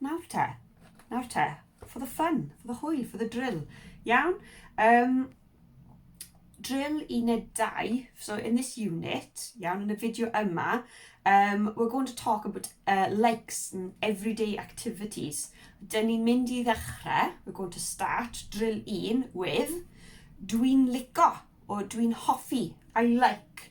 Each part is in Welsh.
Nawr te, nawr te, for the fun, for the hwyl, for the drill. Iawn? Um, drill uned 2, so in this unit, iawn, yn y fideo yma, um, we're going to talk about uh, likes and everyday activities. Dyn ni'n mynd i ddechrau, we're going to start drill 1 with dwi'n lico, or dwi'n hoffi, I like,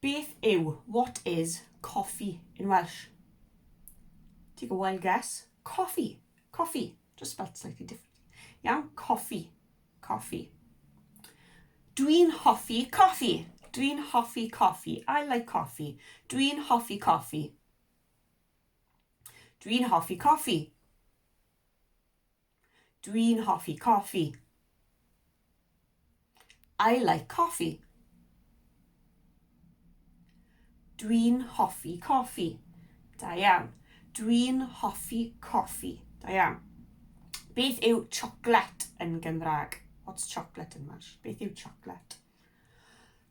Beth yw, what is, coffee in Welsh? Take a wild guess. Coffee. Coffee. Just spelt slightly different. Iawn? Coffee. Coffee. Dwi'n hoffi coffi. Dwi'n hoffi coffi. I like coffee. Dwi'n hoffi coffi. Dwi'n hoffi coffi. Dwi'n hoffi coffi. I like coffee. Dwi'n hoffi coffi. Da iawn. Dwi'n hoffi coffi. Da iawn. Beth yw chocolate yn Gymraeg? What's chocolate in Welsh? Beth yw chocolate?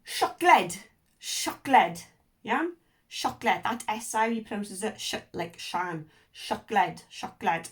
Siocled. Siocled. Iawn? Siocled. That SI pronounces it sh like shan. Siocled. Siocled.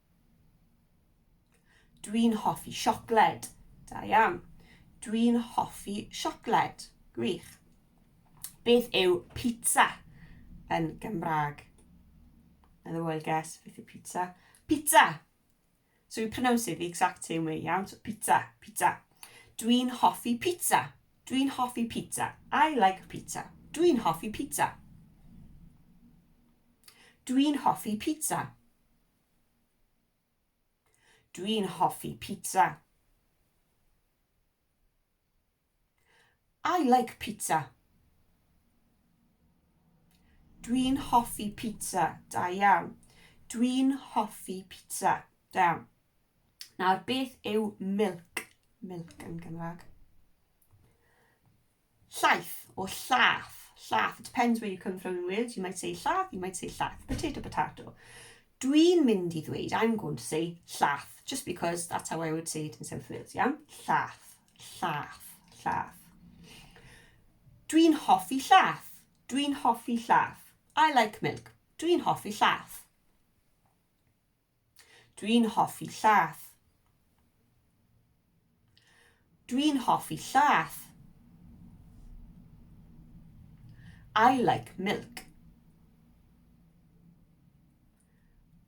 Dwi'n hoffi siocled. Da iawn. Dwi'n hoffi siocled. Gwych. Beth yw pizza yn Gymraeg? Another wild guess. Beth yw pizza? Pizza! So you pronounce it the exact same way, iawn? So pizza, pizza. Dwi'n hoffi pizza. Dwi'n hoffi pizza. I like pizza. Dwi'n hoffi pizza. Dwi'n hoffi pizza. Dwi'n hoffi pizza. I like pizza. Dwi'n hoffi pizza. Da iawn. Dwi'n hoffi pizza. Da iawn. Nawr, beth yw milk? Milk yn Gymraeg. Llaeth, or llath, llath, it depends where you come from in Wales, you might say llath, you might say llath, potato, potato. Dwi'n mynd i ddweud, I'm going to say llath, just because that's how I would say it in South Wales, iawn? Llath, llath, llath. Dwi'n hoffi llath, dwi'n hoffi llath. I like milk, dwi'n hoffi llath. Dwi'n hoffi llath. Dwi'n hoffi llath. I like milk.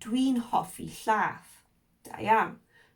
Dwi'n hoffi llath. Da iawn.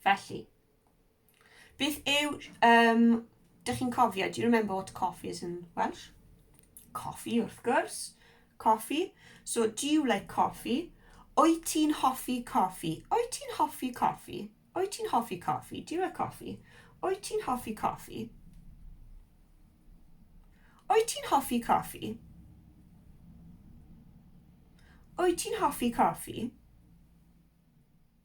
Felly, beth yw... Um, dych chi'n cofio, do you remember what coffee is in Welsh? Coffee, wrth gwrs. Coffee. So, do you like coffee? O'i ti'n hoffi coffee? O'i ti'n hoffi coffee? O'i ti'n hoffi coffee? Do you like coffee? O'i ti'n hoffi coffee? O'i ti'n hoffi coffee? O'i ti'n hoffi coffee?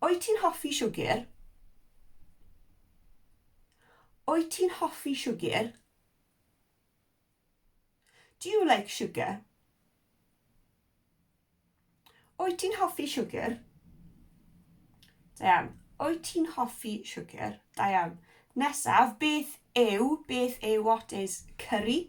Wyt ti'n hoffi siwgr? Wyt ti'n hoffi siwgr? Do you like sugar? Wyt ti'n hoffi siwgr? Da iawn. Wyt ti'n hoffi siwgr? Da iawn. Nesaf, beth yw, beth yw, what is, curry?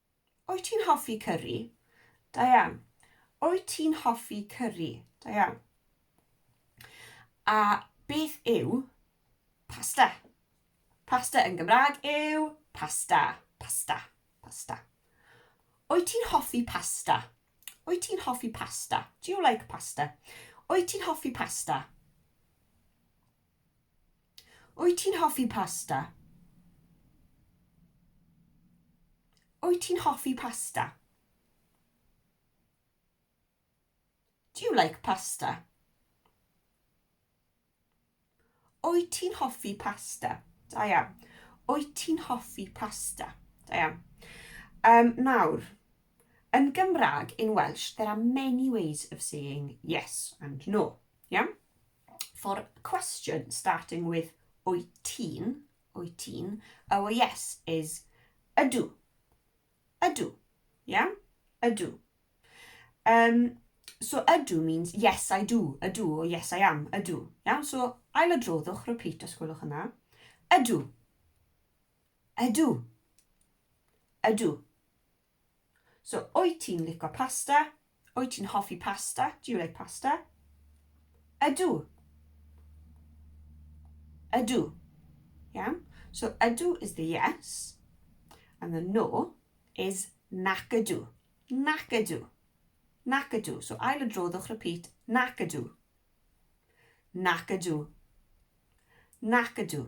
Wyt ti'n hoffi cyri? Da iawn. Wyt ti'n hoffi cyri? Da iawn. A beth yw pasta? Pasta yn Gymraeg yw pasta, pasta, pasta. Wyt ti'n hoffi pasta? Wyt ti'n hoffi pasta? Do you like pasta? Wyt ti'n hoffi pasta? Wyt ti'n hoffi pasta? Wyt ti'n hoffi pasta? Do you like pasta? Wyt ti'n hoffi pasta? Da iawn. Wyt ti'n hoffi pasta? Da iawn. Um, nawr, yn Gymraeg, in Welsh, there are many ways of saying yes and no. Iawn? for a question starting with wyt ti'n, wyt ti'n, our yes is ydw, ydw, yeah, ydw. Um, so ydw means yes I do, ydw or yes I am, ydw, yeah, so ail adroddwch, repeat os gwelwch yna, ydw, ydw, ydw. So, wyt ti'n lico pasta? Wyt ti'n hoffi pasta? Do you like pasta? Ydw. Ydw. Iawn? So, ydw is the yes, and the no is nac ydw. Nac ydw. Nac ydw. So, ail y dro, ddwch repeat. Nac ydw. Nac ydw. Nac ydw.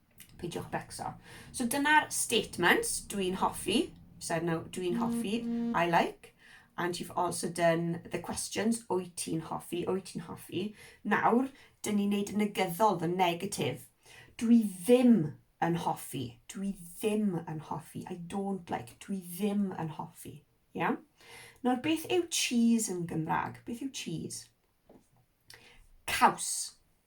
Peidiwch becso. So dyna'r statements dwi'n hoffi. Said now, dwi'n hoffi, mm. I like. And you've also done the questions, wyt ti'n hoffi, wyt ti'n hoffi. Nawr, dyn ni'n neud negyddol, the negative. Dwi ddim yn hoffi. Dwi ddim yn hoffi. I don't like. Dwi ddim yn hoffi. Yeah? Nawr, beth yw cheese yn Gymraeg? Beth yw cheese? Caws.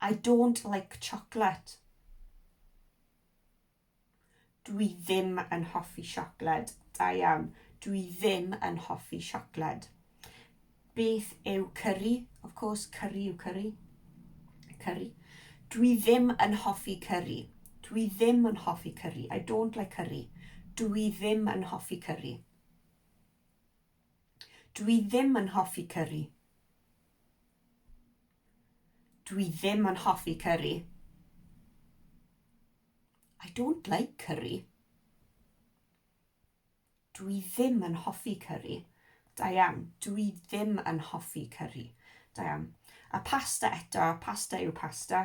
I don't like chocolate. Dwi ddim yn hoffi siocled. Da iawn. Dwi ddim yn hoffi siocled. Beth yw curry? Of course, curry yw curry. Curry. Dwi ddim yn hoffi curry. Dwi ddim yn hoffi curry. I don't like curry. Dwi ddim yn hoffi curry. Dwi ddim yn hoffi cyri. Dwi ddim yn hoffi cyri. I don't like curry. Dwi ddim yn hoffi cyri. Da iawn. Dwi ddim yn hoffi cyri. Da iawn. A pasta eto. Pasta yw pasta.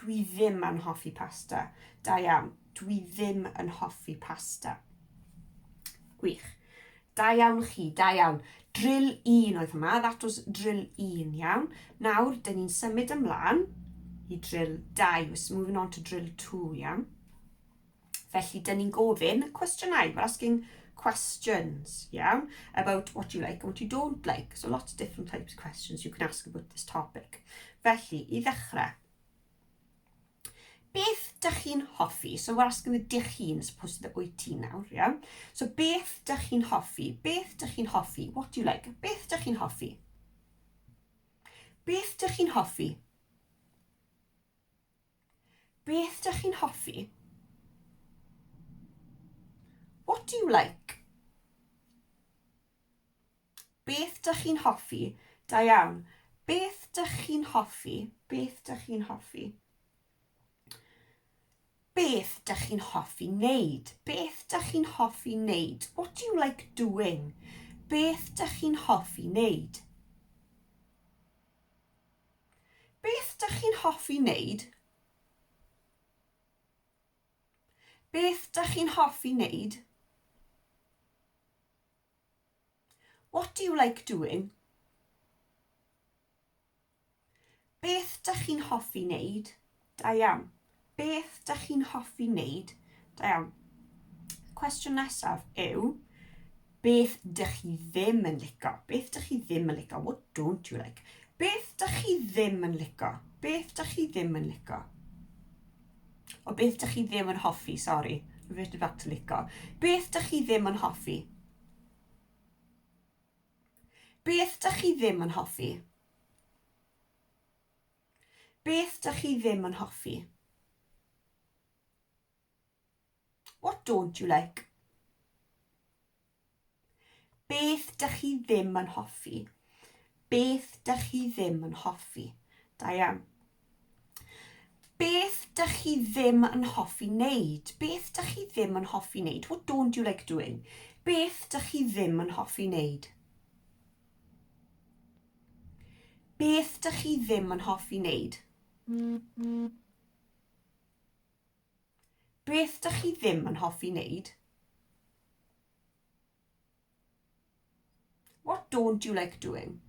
Dwi ddim yn hoffi pasta. Da iawn. Dwi ddim yn hoffi pasta. Gwych. Da iawn chi, da iawn. Drill 1 oedd hwnna, that was drill 1, iawn. Nawr, dyn ni'n symud ymlaen i drill 2. We're moving on to drill 2, iawn. Felly, dyn ni'n gofyn cwestiynau. We're asking questions, iawn, about what you like and what you don't like. So lots of different types of questions you can ask about this topic. Felly, i ddechrau, beth dych chi'n hoffi? So we're asking the dych chi'n, as opposed to the wyt ti nawr, iawn. So beth dych chi'n hoffi? Beth dych chi'n hoffi? What do you like? Beth dych chi'n hoffi? Beth dych chi'n hoffi? Beth dych chi'n hoffi? What do you like? Beth dych chi'n hoffi? Da iawn. Beth dych chi'n hoffi? Beth dych chi'n hoffi? Beth dych chi'n hoffi wneud? Beth dych chi'n hoffi wneud? What do you like doing? Beth dych chi'n hoffi wneud? Beth dych chi'n hoffi wneud? Beth dych chi'n hoffi wneud? What do you like doing? Beth dych chi'n hoffi wneud? Da iawn. Beth dych chi'n hoffi wneud? Da iawn. Cwestiwn nesaf yw, beth dych chi ddim yn lico? Beth dych chi ddim yn lico? What don't you like? Beth dych chi ddim yn lico? Beth dych chi ddim yn lico? O beth dych chi ddim yn hoffi, sori. Reverted back to lico. Beth dych chi ddim yn hoffi? Beth dych chi ddim yn hoffi? Beth dych chi ddim yn hoffi? What don't you like? Beth dych chi ddim yn hoffi? Beth dych chi ddim yn hoffi? Da iawn. Beth dych chi ddim yn hoffi wneud? Beth dych chi ddim yn hoffi wneud? What don't you like doing? Beth dych chi ddim yn hoffi wneud? Beth dych chi ddim yn hoffi wneud? Beth dych chi ddim yn hoffi wneud? What don't you like doing?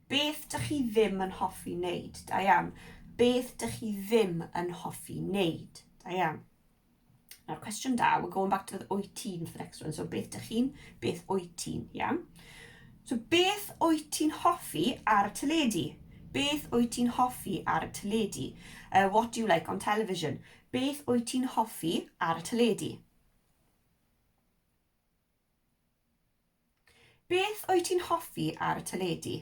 Beth dych chi ddim yn hoffi wneud? Da iawn. Beth dych chi ddim yn hoffi wneud? Da iawn. Nawr, cwestiwn da, we're going back to the wyt ti'n for the next one. So, beth dych chi'n, beth wyt ti'n, iawn? So, beth wyt ti'n hoffi ar y teledu? Beth wyt ti'n hoffi ar y teledu? Uh, what do you like on television? Beth wyt ti'n hoffi ar y teledu? Beth wyt ti'n hoffi ar y teledu?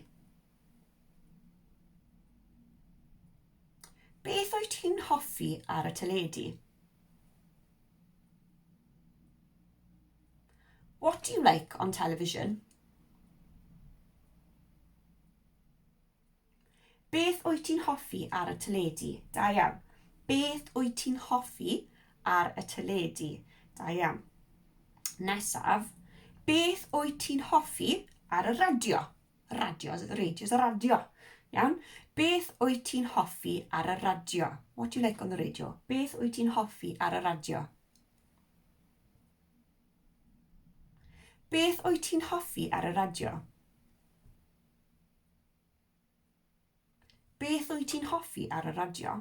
Beth wyt ti'n hoffi ar y teledu? What do you like on television? Beth wyt ti'n hoffi ar y teledu? Da iawn. Beth wyt ti'n hoffi ar y teledu? Da iawn. Nesaf. Beth wyt ti'n hoffi ar y radio? Radio, is it the radio? Is the radio. Iawn. Beth wyt ti'n hoffi ar y radio? What do you like on the radio? Beth wyt ti'n hoffi ar y radio? Beth wyt ti'n hoffi ar y radio? Beth wyt ti'n hoffi ar y radio?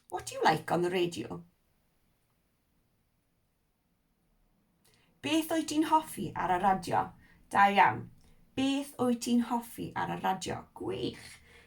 What do you like on the radio? Beth wyt ti'n hoffi ar y radio? Da iawn. Beth wyt ti'n hoffi ar y radio? Gwych.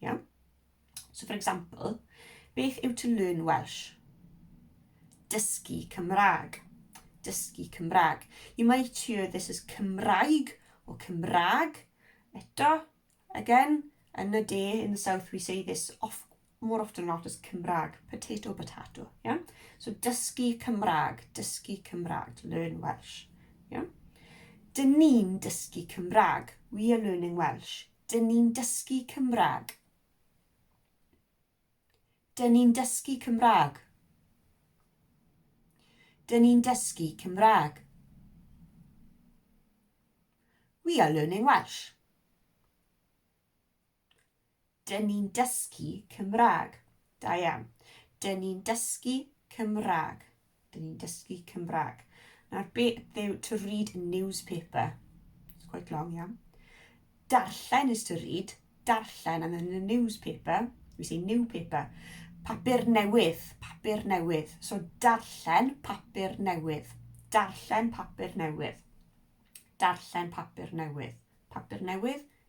Iawn? So for example, beth yw to learn Welsh? Dysgu Cymraeg. Dysgu Cymraeg. You might hear this as Cymraeg or Cymraeg. Eto, again, yn y de, in the south, we say this off, more often not as Cymraeg, potato, potato. Yeah? So dysgu Cymraeg, dysgu Cymraeg, to learn Welsh. Yeah? Dyn ni'n dysgu Cymraeg. We are learning Welsh. Dyn ni'n dysgu Cymraeg. Dyn ni'n dysgu Cymraeg. Dyn ni'n dysgu Cymraeg. We are learning Welsh. Dyn ni'n dysgu Cymraeg. Da iawn. Dyn ni'n dysgu Cymraeg. Dyn ni'n dysgu Cymraeg. Nawr, beth yw to read a newspaper? It's quite long, yeah. Darllen is to read. Darllen, and then the newspaper, we say new paper. Papur newydd, papur newydd. So, darllen papur newydd. Darllen papur newydd. Darllen papur newydd. Papur newydd,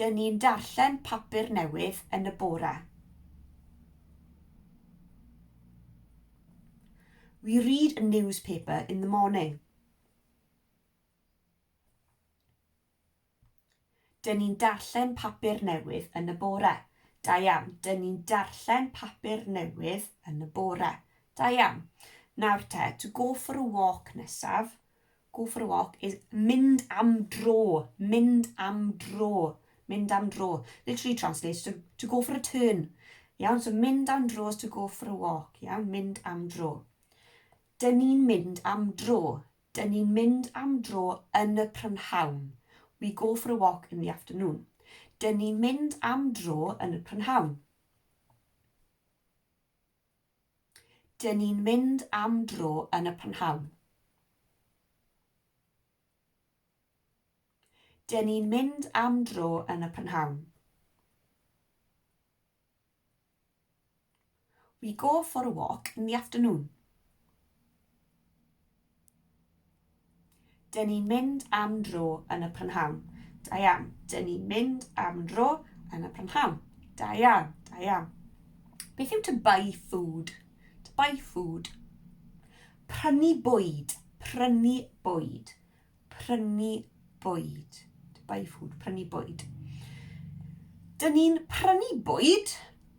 Dyn ni'n darllen papur newydd yn y bore. We read a newspaper in the morning. Dyn ni'n darllen papur newydd yn y bore. Da iawn. Dyn ni'n darllen papur newydd yn y bore. Da iawn. Nawr te, to go for a walk nesaf. Go for a walk is mynd am dro, mynd am dro, mynd am dro. Literally translates to, to go for a turn. Iawn, so mynd am dro is to go for a walk. Iawn, mynd am dro. Dyn ni'n mynd am dro. Dyn ni'n mynd am dro yn y prynhawn. We go for a walk in the afternoon. Dyn ni'n mynd am dro yn y prynhawn. Dyn ni'n mynd am dro yn y prynhawn. Dyn ni'n mynd am dro yn y prynhawn. We go for a walk in the afternoon. Dyn ni'n mynd am dro yn y prynhawn. Da iawn. Dyn ni'n mynd am dro yn y prynhawn. Da iawn, da iawn. Beth yw to buy food? To buy food. Prynu bwyd, prynu bwyd. Prynu bwyd. To buy food, prynu bwyd. Dyn ni'n prynu bwyd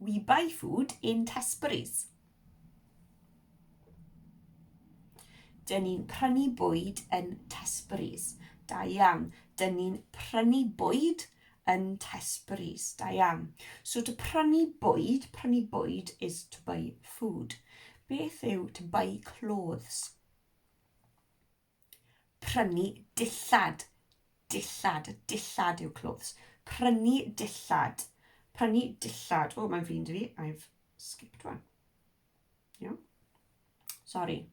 We buy food in Tesbury's. Dyn ni'n prynu bwyd yn Tesbury's. Da iawn. Dyn ni'n prynu bwyd yn Tesbury's. Da iawn. So to prynu bwyd, prynu bwyd is to buy food. Beth yw to buy clothes? Prynu dillad. Dillad. Dillad yw clothes. Prynu dillad. Prynu dillad. O, mae'n flin dwi fi. I've skipped one. Yeah. Sorry.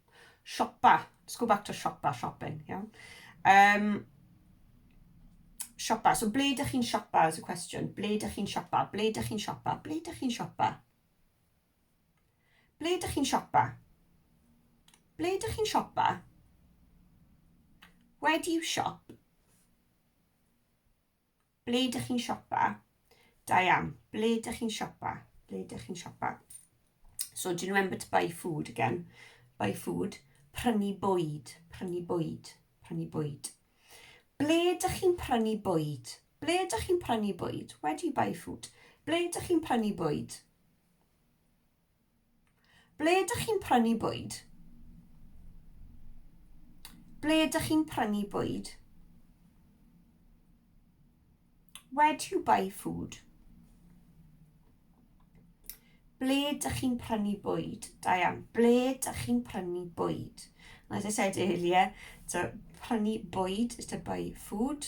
Siopa. Let's go back to siopa, shopping. Yeah. Um, siopa. So, ble ydych chi'n siopa is a question. Ble ydych chi'n siopa? Ble ydych chi'n siopa? Ble ydych chi'n siopa? Ble dych chi'n siopa? Ble dych chi'n siopa? Where do you shop? Ble dych chi'n siopa? Da iawn. Ble dych chi'n siopa? Ble dych chi'n siopa? So, do you remember to buy food again? Buy food. Prynu bwyd. Prynu bwyd. Prynu bwyd. Ble dych chi'n prynu bwyd? Ble dych chi'n prynu bwyd? Where do you buy food? Ble dych chi'n prynu bwyd? Ble ydych chi'n prynu bwyd? Ble ydych chi'n prynu bwyd? Where do you buy food? Ble ydych chi'n prynu bwyd? Da iawn. Ble ydych chi'n prynu bwyd? And as I said earlier, to prynu bwyd is to buy food.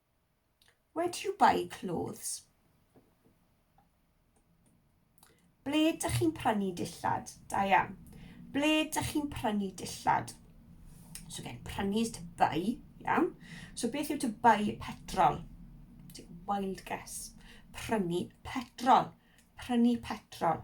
Where do you buy clothes? Ble dych chi'n prynu dillad? Da iawn. Ble dych chi'n prynu dillad? So again, prynu is to buy, iawn. So beth yw to buy petrol? Take a wild guess. Prynu petrol. Prynu petrol.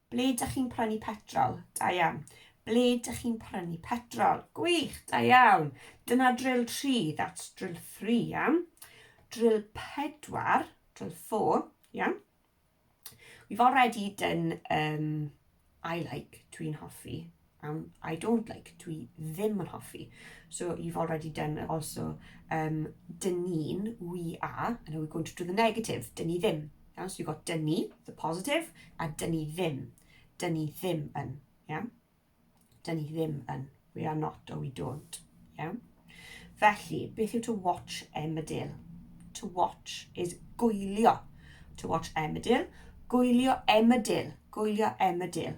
Ble dych chi'n prynu petrol? Da iawn. Ble dych chi'n prynu petrol? Gwych, da iawn. Dyna drill 3, that's drill 3, iawn. Drill 4, drill 4, iawn. We've already done um, I like, dwi'n hoffi, Um, I don't like, dwi ddim yn hoffi. So you've already done also, um, dyn ni'n, we are, and now we're going to do the negative, dyn ni ddim. Yeah? So you've got dyn ni, the positive, a dyn ni ddim. Dyn ni ddim yn, yeah? Dyn ni ddim yn. We are not or we don't, yeah? Felly, beth yw to watch emmerdale? To watch is gwylio. To watch emmerdale. Gwylio emmerdale. Gwylio emmerdale.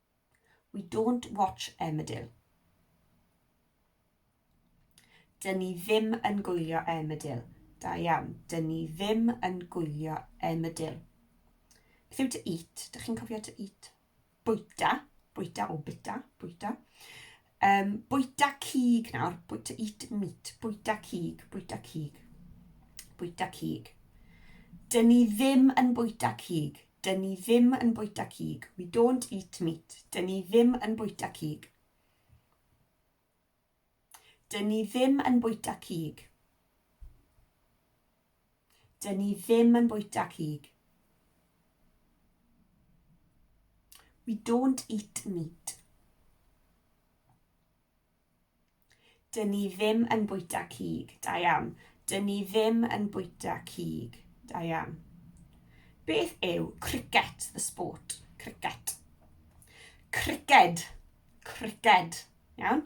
We don't watch Emmerdale. Dyn ni ddim yn gwylio Emmerdale. Da iawn. Dyn ni ddim yn gwylio Emmerdale. Beth yw to eat? Dych chi'n cofio to eat? Bwyta. Bwyta o bita. Bwyta. Um, bwyta cig nawr, bwyta eat meat, bwyta cig, bwyta cig, bwyta cig. Dyn ni ddim yn bwyta cig, dyn ni ddim yn bwyta cig, we don't eat meat, dyn ni ddim yn bwyta cig. Dyn ni ddim yn bwyta cig. Dyn ni ddim yn bwyta cig. We don't eat meat. Dyn ni ddim yn bwyta cig. Da iawn. Dyn ni ddim yn bwyta cig. Da iawn. Beth yw cricket, the sport? Cricket. Cricket. Cricket. Iawn?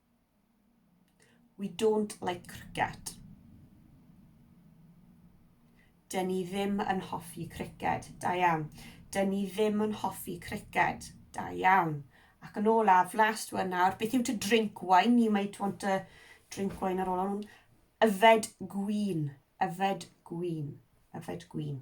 We don't like cricket. Dyn ni ddim yn hoffi criced. Da iawn. Dyn ni ddim yn hoffi criced. Da iawn. Ac yn olaf, last one nawr, beth yw to drink wine? You might want to drink wine ar ôl hwn. Yfed gwyn. Yfed gwyn. Yfed gwyn.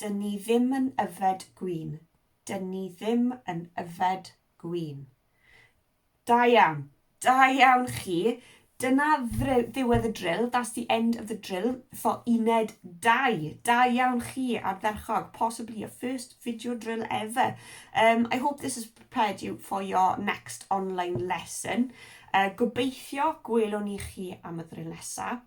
Dyn ni ddim yn yfed gwin. Dyn ni ddim yn yfed gwin. Da iawn. Da iawn chi. Dyna ddiwedd y drill. That's the end of the drill for uned 2. Da iawn chi, ardderchog. Possibly your first video drill ever. Um, I hope this has prepared you for your next online lesson. Uh, gobeithio gwelwn ni chi am y ddrill nesaf.